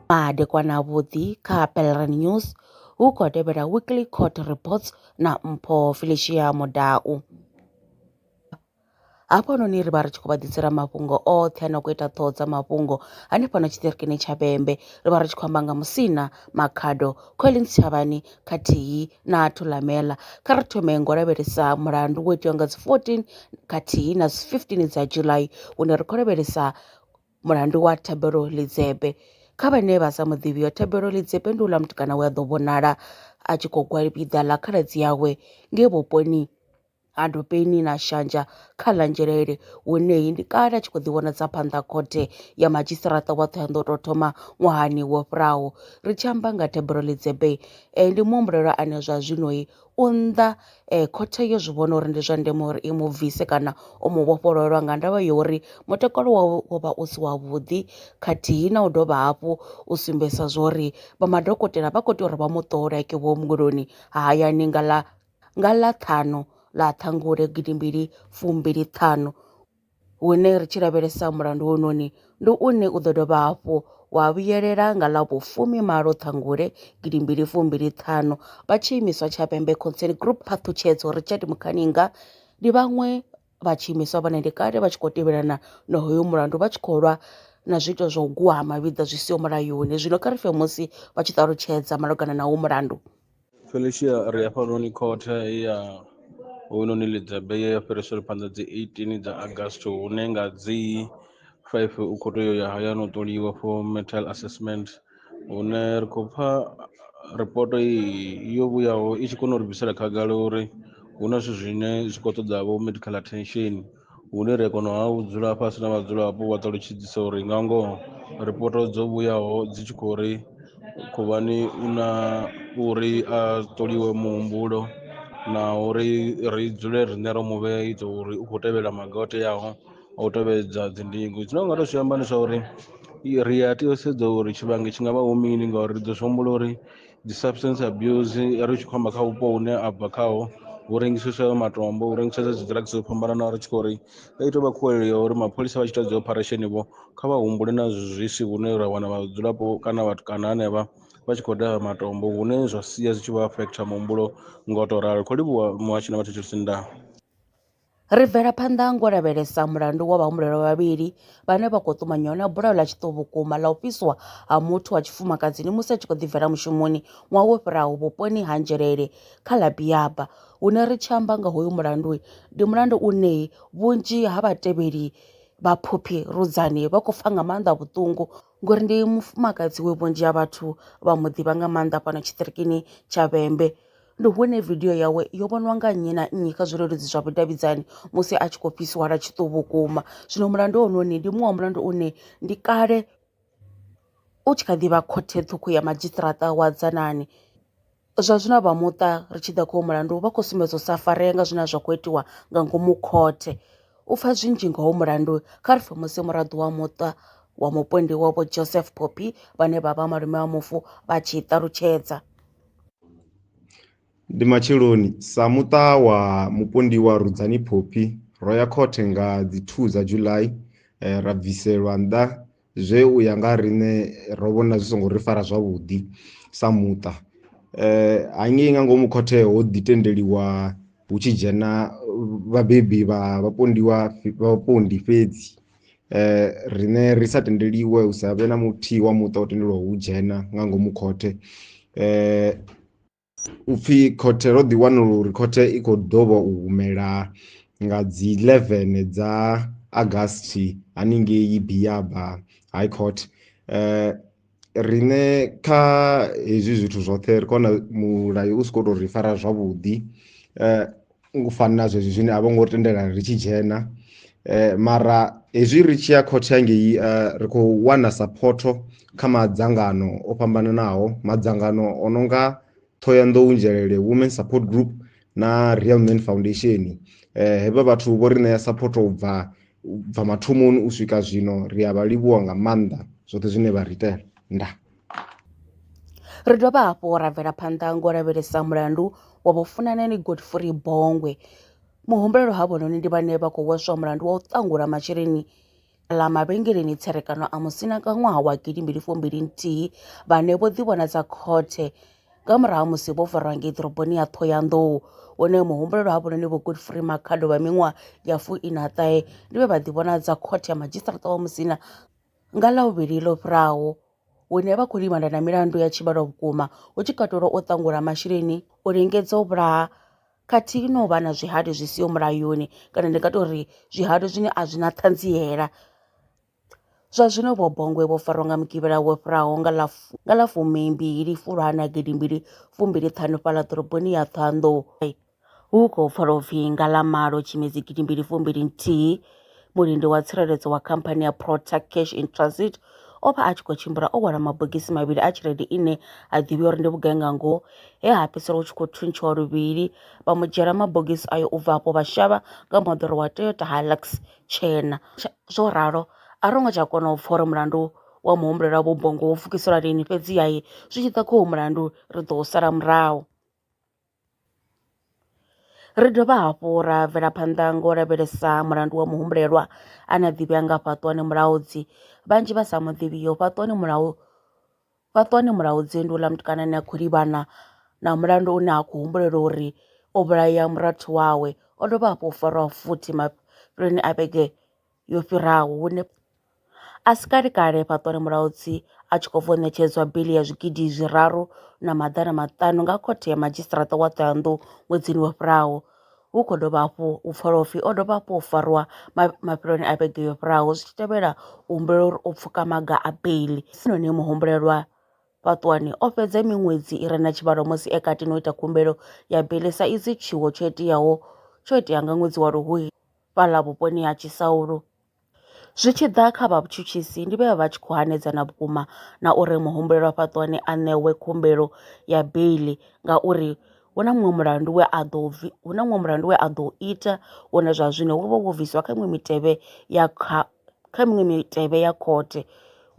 Madekwana vhuḓi kha Pelran News hu khou tevhela Weekly Court Reports na Mpho Felicia Mudau. hafhanoni ri vha ri tshi khou vha ḓisela mafhungo oṱhe a no khou ita ṱhoho dza mafhungo hanefhano tshiṱirikini tsha vhembe ri vha ri tshi khou amba nga musina makhado collins tshavhani khathihi na Thulamela. Kha ri thome ngo lavhelesa mulandu wo itiwa nga dzi 14 khathihi na dzi 15 dza July hune ri khou lavhelesa mulandu wa Thabelo Lidzebe. Kha vhane vha sa muḓivhi yo Thabelo Lidzebe ndi uḽa mutukana we a ḓo vhonala a tshi khou gwalabedza ḽa khaladzi yawe ngei vhuponi ha ndopeni na shanja kha ḽa nzhelele huneyi ndi kale a tshi khou ḓivhonadza phanḓa khothe ya madzhisiṱaraṱa wa Thohoyandou tou thoma ṅwahani wo fhiraho. Ri tshi amba nga Deborah Lidzebei, eh, ndi muhumbulelwa ane zwa zwinoi u nnḓa eh, khothe yo zwi vhona uri ndi zwa ndeme uri i mu bvise kana u mu vhofhololwa nga ndavha ya uri mutakalo wawe wo vha u si wavhuḓi khathihi na u dovha hafhu u sumbedzisa zwa uri vha madokotela vha khou tea uri vha mu ṱole ke vhuongeloni ha hayani nga ḽa Nga ḽa ṱhanu ḽa Ṱhangule gidimbili fumbili ṱhanu hune ri tshi lavhelesa mulandu hounoni ndi une u ḓo dovha hafhu wa vhuyelela nga ḽa vhufumi malo Ṱhangule gidimbili fumbili ṱhanu vha tshi imiswa tsha Pembe Concern Group Phaṱhutshedzo Richard Mukhaninga ndi vhaṅwe vha tshi imiswa vhone ndi kale vha tshi khou tevhelana na hoyo mulandu vha tshi khou lwa na zwiito zwa u guhama vhiḓa zwi siho mulayoni zwino kha ri fe musi vha tshi ṱalutshedza malugana na wo mulandu. Felicia ri hafhanoni khothe ya hoyunoni ḽidzebe ye ya fhirisela phanḓa dzi 18 dza August hune nga dzi 5 u khou tea u ya hayani u ṱoliwa for metal assessment hune ri khou pfa ripoto iyi yo vhuyaho i tshi kona u ri bvisela khagala uri hu na zwithu zwine zwi khou ṱoḓa vho medical attention. hune ra kona ha u dzula fhasi na vhadzulapo vha ṱalutshedzisa uri nga ngoho ripoto dzo vhuyaho dzi tshi khou ri khuvhani u na uri a ṱoliwe muhumbulo na uri ri dzule riṋe ro mu vhea ita uri u khou tevhela maga o teaho a u tevhedza dzi ndingo zwine u nga to zwi amba ndi zwa uri ri a tea u sedza uri tshivhangi tshi ngavha hu mini ngauri ri ḓo zwi humbula uri. dzi substance abuse ri tshi khou amba kha vhupo hune a bva khaho hu rengiseswa matombo hu rengiseswa dzi drugs dzo fhambananaho ri tshi khou ri i tou vha khuwelelo ya uri mapholisa vha tshi ita dzi operation vho kha vha humbule na zwi si hune ra wana vhadzulapo kana vhathu kana hanevha vha tshi khou daha matombo hune zwa sia zwi tshi vha affect muhumbulo nga u tou ralo ri khou livhuwa muhasho na vhathu vha tshitshili tshi nda. Ri bvela phanḓa ngo lavhelesa mulandu wa vhahumbulelwa vhavhili vhane vha khou ṱumanywa na bulayo ḽa tshiṱo vhukuma ḽa u fhiswa ha muthu wa tshifumakadzini musi a tshi khou ḓibvela mushumoni ṅwaha wo fhiraho vhuponi ha Nzhelele kha ḽa Biyaba. Hune ri tshi amba nga hoyu mulandu, ndi mulandu une vhunzhi ha vhatevheli vha Phophi Rudzani vha khou pfa nga maanḓa vhuṱungu ngori ndi mufumakadzi we vhunzhi ha vhathu vha mu ḓivha nga maanḓa fhano tshiṱirikini tsha Vhembe. Ndi hune vidio yawe yo vhoniwa nga nnyi na nnyi kha zwileludzi zwa vhudavhidzani musi a tshi khou fhisiwa lwa tshiṱuhu vhukuma zwino mulandu wa hone une ndi muṅwe wa mulandu une ndi kale u tshi kha ḓivha khothe ṱhukhu ya madzhisiṱaraṱa wa Dzanani. Zwa zwino vha muṱa ri tshi ḓa kho mulandu vha khou sumbedza u sa farea nga zwine zwa kho itiwa nga ngomu khothe u pfha zwinzhi nga ho mulandu kha ri fhumuse muraḓo wa muṱa wa mupondiwa vho Joseph Phophi vhane vha vha malume wa mufu vha tshi ṱalutshedza. Ndi matsheloni sa muṱa wa mupondiwa Rudzani Phophi ro ya khothe nga dzi 2 dza July ra bviselwa nnḓa zwe u ya nga riṋe ro vhona zwi songo ri fara zwavhuḓi sa muṱa hangei nga ngomu khothe ho ḓi tendeliwa hu tshi dzhena vhabebi vha vhapondiwa vhapondi fhedzi riṋe ri sa tendeliwe hu sa vhe na muthihi wa muṱa o tendelwaho u dzhena nga ngomu khothe . U pfi khothe ro ḓi wanula uri khothe i khou ḓo vha u humela nga dzi 11 dza Agasti haningei Biyaba High Court. Eh riṋe kha hezwi zwithu zwoṱhe ri khou wana mulayo u si khou tou ri fara zwavhuḓi. Eh ngo fanela zwezwi zwine a vho ngo tendela ri tshi dzhena eh, mara hezwi ri tshi ya khothe yangei uh, eh, ri khou wana sapotho kha madzangano o fhambananaho madzangano o no nga thohoyanḓou nzhelele women support group na real man foundation eh, hevha vhathu vho ri ṋea sapotho u bva bva mathomoni u swika zwino ri a vha livhuwa nga maanḓa zwoṱhe zwine vha ri itela ndaa Ri dovha hafhu ra bvela phanḓa ngo lavhelesa mulandu wa vhofunanani Godfrey Bongwe. Muhumbulelo ha vhononi ndi vhane vha khou hweswa mulandu wa u ṱangula masheleni ḽa mavhengeleni tserekano a musina nga ṅwaha wa gidi mbili fumbili nthihi vhane vho ḓivhona dza khothe nga murahu musi vho farwa ngei ḓoroboni ya Ṱhohoyanḓou hune muhumbulelo ha vhononi vho Godfrey Makhado vha miṅwaha ya fuiṋa ṱahe ndi vhe vha ḓivhona dza khothe ya madzhisiṱaraṱa wa musina Nga Ḽavhuvhili ḽo fhiraho, hune vha khou livhana na milandu ya tshivhalo vhukuma, hu tshi katelwa u ṱangula masheleni, u lingedza u vhulaha khathihi na u vha na zwihali zwi siho mulayoni kana ndi nga to ri zwihali zwine a zwi na ṱhanziela. Zwa zwino vho Bongwe vho farwa nga mugivhela wo fhiraho nga ḽa fu, nga ḽa fumimbili Fulwana gidimbili fumbili ṱhanu fhaḽa ḓoroboni ya Ṱhohoyanḓou. Hu khou pfala u pfi nga ḽa malo Tshimedzi gidi mbili fumbili nthihi, mulindi wa tsireledzo wa khamphani ya Prota Cash in Transit o vha a tshi khou tshimbila o hwala mabogisi mavhili a tshelede ine a ḓivhiwa uri ndi vhugai nga ngoho, he ha fhedzisela hu tshi khou thuntshiwa luvhili, vha mu dzhiela mabogisi ayo u bva afho vha shavha nga moḓoro wa Toyota Hilux tshena. Zwo ralo, a ro ngo tsha kona u pfa uri mulandu wa muhumbulelwa wa vhubongo wo pfukiselwa lini, fhedziha zwi tshi ḓa kha uyu mulandu, ri ḓo u sala murahu. Ri dovha hafhu ra bvela phanḓa ngo lavhelesa mulandu wa muhumbulelwa ane a ḓivhea nga Fhaṱuwani Mulaudzi. Vhanzhi vha sa muḓivhiho Fhaṱuwani Mulao Fhaṱuwani Mulaudzi ndi houḽa mutukana ane a khou livhana na mulandu une ha khou humbulelwa uri o vhulaya murathu wawe o dovha hafhu o fariwa futhi mafheloni a vhege. yo fhiraho hune a si kale kale fhaṱwani mulaudzi a tshi khou bva u ṋetshedzwa bili ya zwigidi zwiraru na maḓana maṱanu nga khothe ya madzhisiṱaraṱa wa Ṱhohoyanḓou ṅwedzini wo fhiraho, hu khou dovha hafhu u pfala upfi o dovha hafhu u farwa mafheloni a vhege yo fhiraho zwi tshi tevhela u humbela uri u pfuka maga a bili. Hezwinoni muhumbulelwa fhaṱwani o fhedza miṅwedzi i re na tshivhalo musi e kati na u ita khumbelo ya bili sa izwi tshiwo tsho iteaho tsho itea nga ṅwedzi wa Luhuhi fhaḽa vhuponi ha Tshisaulu. Zwi tshi ḓa kha vhatshutshisi ndi vhe vha tshi khou hanedzana vhukuma na uri muhumbulelwa fhaṱuwani a ṋewe khumbelo ya beiḽi ngauri hu na muṅwe mulandu we a ḓo hu na muṅwe mulandu we a ḓo ita wone zwa zwino wo vha wo bvisiwa kha iṅwe mitevhe ya kha kha miṅwe mitevhe ya khothe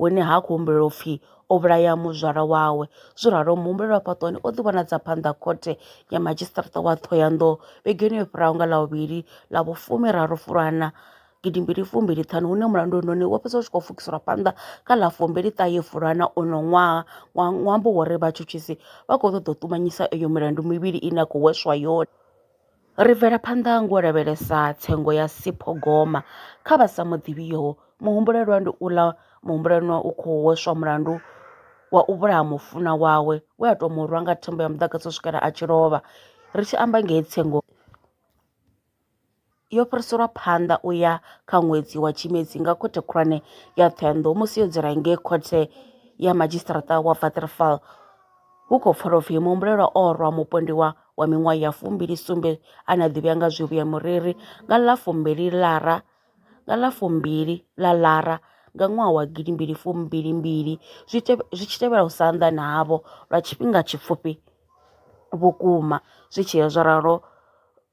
hune ha khou humbulelwa upfhi o vhulaya muzwala wawe. Zwo ralo muhumbeli wa fhaṱuwani o ḓi vhonadza phanḓa ha khothe ya madzhisiṱaraṱa wa Ṱhohoyanḓou vhegeni yo fhiraho nga Ḽavhuvhili ḽa vhu fumi raru Fulwana gidi mbili fumbili ṱhanu hune mulandu hoyunoni wo fhedza u tshi khou pfukiselwa phanḓa kha ḽa fumbili ṱahe Fulwana uno ṅwaha wa ṅwambo wori vhatshutshisi vha khou ṱoḓa u ṱumanyisa eyo milandu mivhili ine ya khou hweswa yone. Ri bvela phanḓa ngo u lavhelesa tsengo ya sipho goma kha vha sa muḓivhiho, muhumbulelwa ndi uḽa muhumbulelwa u khou hweswa mulandu wa u vhulaha mufunwa wawe we a tou mu rwa nga thimba ya muḓagasi u swikela a tshi lovha. Ri tshi amba nga he tsengo yo fhiriselwa phanḓa u ya kha ṅwedzi wa Tshimedzi nga khothe khulwane ya Ṱhohoyanḓou musi yo dzula ngei khothe ya madzhisiṱaraṱa wa Waterval. Hu khou pfala u pfi muhumbulelwa o rwa mupondiwa wa miṅwaha ya fumbili sumbe ane a ḓivhea nga zwivhi ya mureri nga ḽa fumbili ḽara nga ḽa fumbili ḽa ḽara nga ṅwaha wa gidi mbili fumbili mbili zwi tshi tevhela u sa anḓana havho lwa tshifhinga tshipfufhi vhukuma zwi tshi ya zwo ralo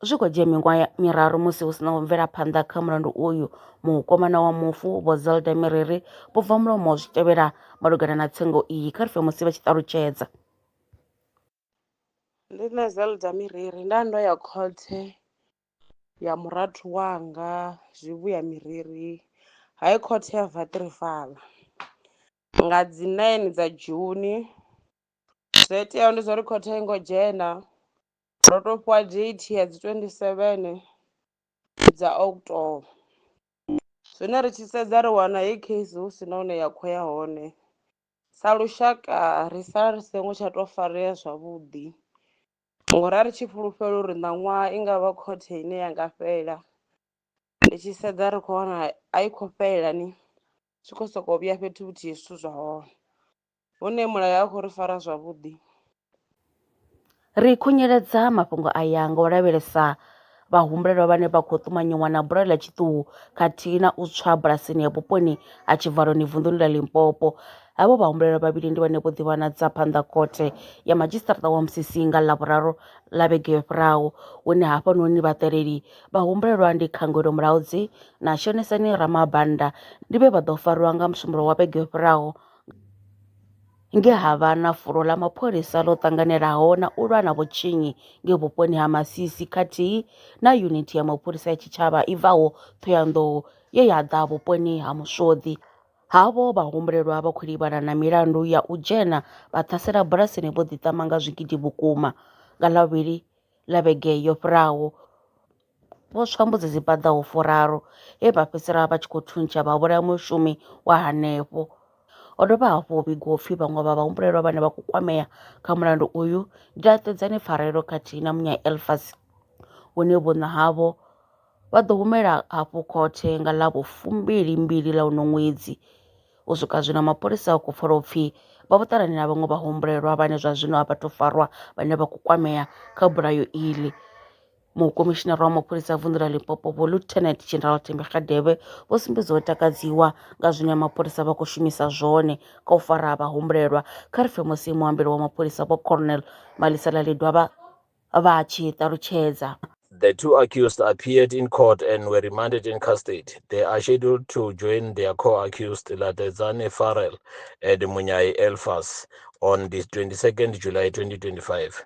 Zwi kho dzhia miṅwaha miraru musi hu si na u bvela phanḓa kha mulandu uyu, mukomana wa mufu Vho Zelda Miriri vho bva mulomo zwi tevhela malugana na tsengo iyi kha ri pfe musi vha tshi ṱalutshedza. Ndi nṋe Zelda Miriri nda ndo ya khothe ya murathu wanga Zwivhuya Miriri High Court ya Waterval nga dzi nine dza June zwo iteaho ndi zwa uri khothe a i ngo dzhena Ndo to fhiwa date ya dzi twenty seven dza October zwine ri tshi sedza ri wana heyi case hu si na hune ya khou ya hone sa lushaka ri sala ri songo tsha to farea zwavhuḓi ngori a ri tshi fhulufhela uri ṋaṅwaha i ngavha khothe ine ya nga fhela ndi tshi sedza ri kho wana a i khou fhelela ni zwi kho soko vhuya fhethu huthihi zwithu zwa hone hune mulayo a khou ri fara zwavhuḓi. Ri khunyeledza mafhungo aya nga u lavhelesa vhahumbulelwa vhane vha khou ṱumanyiwa na bulayo ḽa tshiṱuhu khathihi na u tswa bulasini ya vhuponi ha Tshivhaloni vunḓuni ḽa Limpopo. Havho vhahumbulelwa vhavhili ndi vhane vho ḓivhanadza phanḓa khothe ya madzhisiṱaraṱa wa Musisi nga Ḽavhuraru ḽa vhege yo fhiraho, hune hafhanoni vhaṱaleli vhahumbulelwa ndi Khangwelo Mulaudzi na Shonisani Ramabanda ndi vhe vha ḓo farwa nga Musumbulowo wa vhege yo fhiraho. nge ha vha na fulo ḽa mapholisa ḽo ṱanganelaho na u lwa na vhutshinyi nge vhuponi ha Masisi khathihi na yunithi ya mapholisa ya tshitshavha i bvaho Thohoyandou ye ya ḓa vhuponi ha Muswoḓi. Havho vha humbulelwa vha khou livhana na milandu ya u dzhena vha ṱhasela bulasini vho ḓiṱama nga zwigidi vhukuma nga ḽavhili ḽa vhege yo fhiraho. Vho tswa mbudzi dzi paḓaho furaru he vha fhedzisela vha tshi khou thuntsha vha vhulaya mushumi wa hanefho. Ho dovha hafhu ho vhigiwa upfi vhaṅwe vha vhahumbulelwa vhane vha khou kwamea kha mulandu uyu ndi laṱedzani pfarelo khathihi na munya Elfas hune vhuṋa havho vha ḓo humela hafhu khothe nga ḽa vhu fumbili mbili ḽa uno ṅwedzi. U swika zwino mapholisa a khou pfala upfi vha vho ṱalana na vhaṅwe vhahumbulelwa vhane zwa zwino a vha thu farwa vhane vha khou kwamea kha bulayo iḽi. Mukomishinara wa mapholisa a vunḓu ḽa Limpopo vho Lieutenant General Thembi Kgadebe vho sumbedza u takadziwa nga zwine mapholisa vha khou shumisa zwone kha u fara vha humbulelwa kha ri pfe musi muambeli wa mapholisa vho Colonel Malisela Ledwaba vha tshi ṱalutshedza. The two accused appeared in court and were remanded in custody. They are scheduled to join their co-accused Latedzane Farrell and Munyayi Elfas on the 22nd July 2025.